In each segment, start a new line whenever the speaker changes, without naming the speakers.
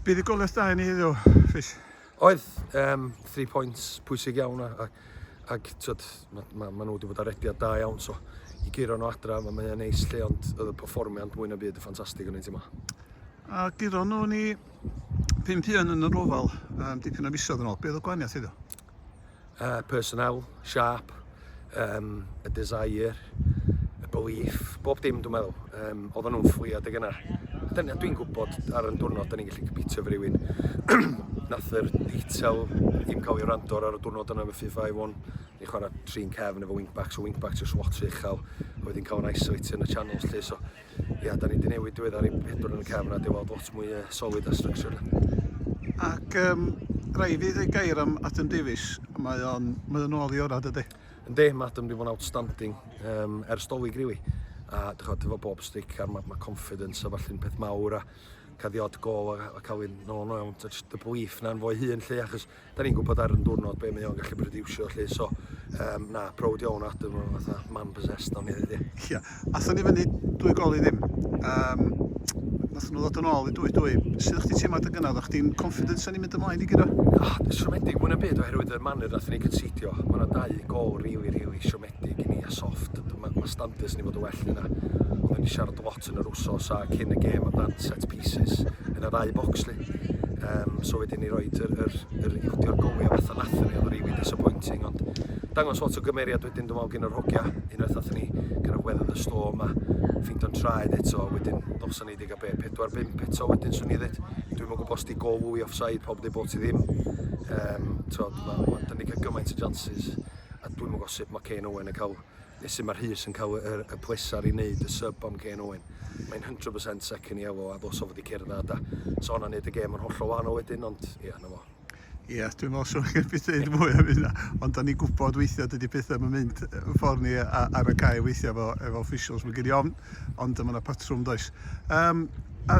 Bydd y goles da i ni heddiw, Rhys. Oedd,
um, three points pwysig iawn a, a, ac tyd, ma, ma, ma nhw wedi bod ar rediad da iawn, so i guro nhw adra, mae mae'n neis lle, ond oedd y performiad mwy na byd y ffantastig yn ein tîm A guro
nhw ni pum pion yn yr ofal, um, dipyn o fisoedd yn ôl, beth oedd y gwaniaeth iddo? uh,
personnel, sharp, um, y desire, y belief, bob dim dwi'n meddwl, um, oedden nhw'n ffliad ag yna. Dwi'n gwybod ar y diwrnod, da ni'n gallu cypitio fy rywun. Nath yr detail ddim cael ei rando ar y diwrnod yna, fe 5-1. Ni'n chwarae trin cefn efo wingbacks, o wingbacks o swat uchel, a wedyn cael yn isolated yn y channels lle, so ia, da ni wedi newid diweddar i pedwar yn y cefn a deweld lot mwy uh, solid a structure. Ac
um, rai fi ddweud gair am Adam Davies, mae o'n mae o'n ôl i orau dydy? Ynddi, mae Adam wedi bod yn
outstanding um, er stolig rili. Really. A dychod, efo bob stick a mae ma confidence a falle'n peth mawr a cael ddiod gol a, a cael ei nôl nhw iawn, just y belief na'n fo'i hun lle, achos 'da ni'n gwbod ar yn diwrnod be mae o'n gallu brodiwsio 'lly so yym na prowd iawn o Adam o fatha man possessed o'n i ddeud ia. Ia, athon ni
fyny dwy gol i ddim, yym nathon nhw ddod yn ôl i dwy dwy, sud o'ch chdi teimlo adeg yna, o'ch chdi'n confident o'n i'n mynd ymlaen i guro? Siomedig mwy
na byd oherwydd y manner nathon ni gynseidio, ma' 'na dau gol rili rili siomedig. di gin i a sofft. Mae ma standards ni fod yn well na hynna. Oedden ni siarad a lot yn yr wsos a cyn y gêm amdan set pieces yn y ddau bocs li. Um, so wedyn ni roed yr, yr, yr iwdio'r gowi a fatha nathon ni, oedd rili disappointing, ond dangos lot o gymeriad wedyn dwi'n meddwl gyn yr hogia, unwaith nathon ni kind of weather the storm a ffeindo'n traed eto, wedyn noson ni wedi cael be, 4-5 eto wedyn swn i ddweud. Dwi'n meddwl bod sti gol i offside, pob di bod ti ddim. Um, tod, ma, ma, dyn ni cael gymaint o jances. a dwi'm yn gwybod sut mae Kane Owen yn cael, neu sut mae Rhys yn cael y, y pleser i wneud y sub am Kane Owen. Mae'n 100% second yellow a ddos o fod i cyrdd a da. So hwnna'n neud y gêm yn hollol wahanol wedyn, ond ie, yeah, na fo. Ie, yeah, dwi'n meddwl
swn i'n byd dweud mwy am hynna, ond da ni'n gwybod weithiau dydy pethau yn mynd ffordd ni ar y cae weithiau efo, efo officials. Mae gen i ofn ond mae yna patrwm does. Um, a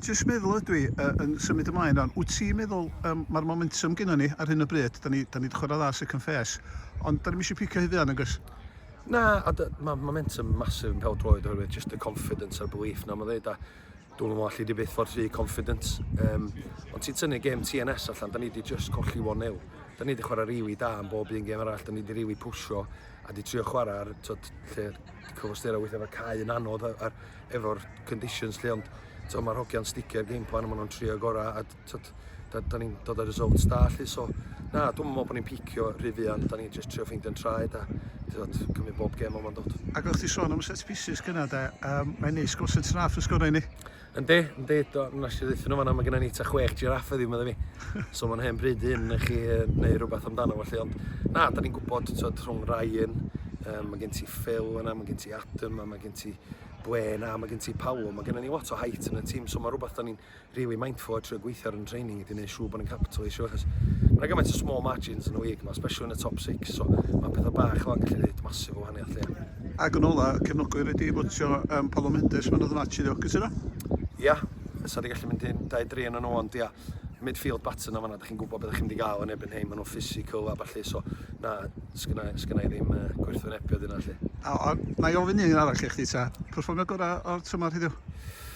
jyst meddwl ydw i uh, yn symud ymlaen rhan, wyt ti'n meddwl um, mae'r momentum gyda ni ar hyn o bryd, da ni, da ni wedi chwarae dda sy'n confes, ond da ni eisiau picio hyd yn agos? Na, a
mae momentum masif yn pel droed oherwydd just y confidence a'r belief na mae'n dweud, a Dw'm yn meddwl alli di byth fod rhy confident. Yym, ond ti'n tynnu gêm TNS allan, da ni di just colli 1-0. Da ni di chwarae rili da yn bob un gêm arall, da ni di rili pwsio a di trio chwarae ar, twyd, lle cyfostera weithio efo'r cae yn anodd a'r, efo'r conditions lle, ond twyd, mae'r hogiau'n sticio'r game plan a maen nhw'n trio gorau a tyd, da, da ni'n dod â results da lly, so na, dwi'n meddwl bod ni'n picio rhy fuan, da ni'n just trio ffeindio'n traed a tyd, cymryd bob gem o'n dod. Ac o'ch ti sôn am y set
pieces gyna da, um, mae'n neis gwrs yn traf yn sgorau ni. Yndi, yndi,
nes i ddweud nhw fanna, mae gennym ni ta chwech giraff ydi, meddwl fi. So mae'n hen bryd hyn i chi neu rhywbeth amdano fo lly, ond na, da ni'n gwybod, tyd, rhwng Ryan, um, mae gen ti Phil yna, mae gen ti Adam, mae gen ti Gwen a mae gen ti Paolo, mae gennym ni lot o height yn y tîm, so mae rhywbeth da ni'n rili mindful a trio gweithio ar yn training i di neud siŵr bod yn capitalisio achos mae yna gymaint o small margins yn y week ma, especially yn y top six, so mae pethau bach fel yn gallu gwneud masif o wahaniaeth llia. Ac yn ola,
cefnogwyr wedi fotio um, Palo Mendes man oedd yn atchyd o, cysyno? Ia, yeah.
fysa wedi gallu mynd i'n 23 yn nhw, ond ia, midfield baton na fanna, da chi'n gwybod beth ydych chi'n wedi gael yn ebyn hyn, maen nhw'n physical a falle, so na, sgynna, sgynna i ddim uh, gwerthwynebiad yna lle. A, a, na i ofyn un
arall i chdi ta, perfformio gorau o'r tymor heddiw?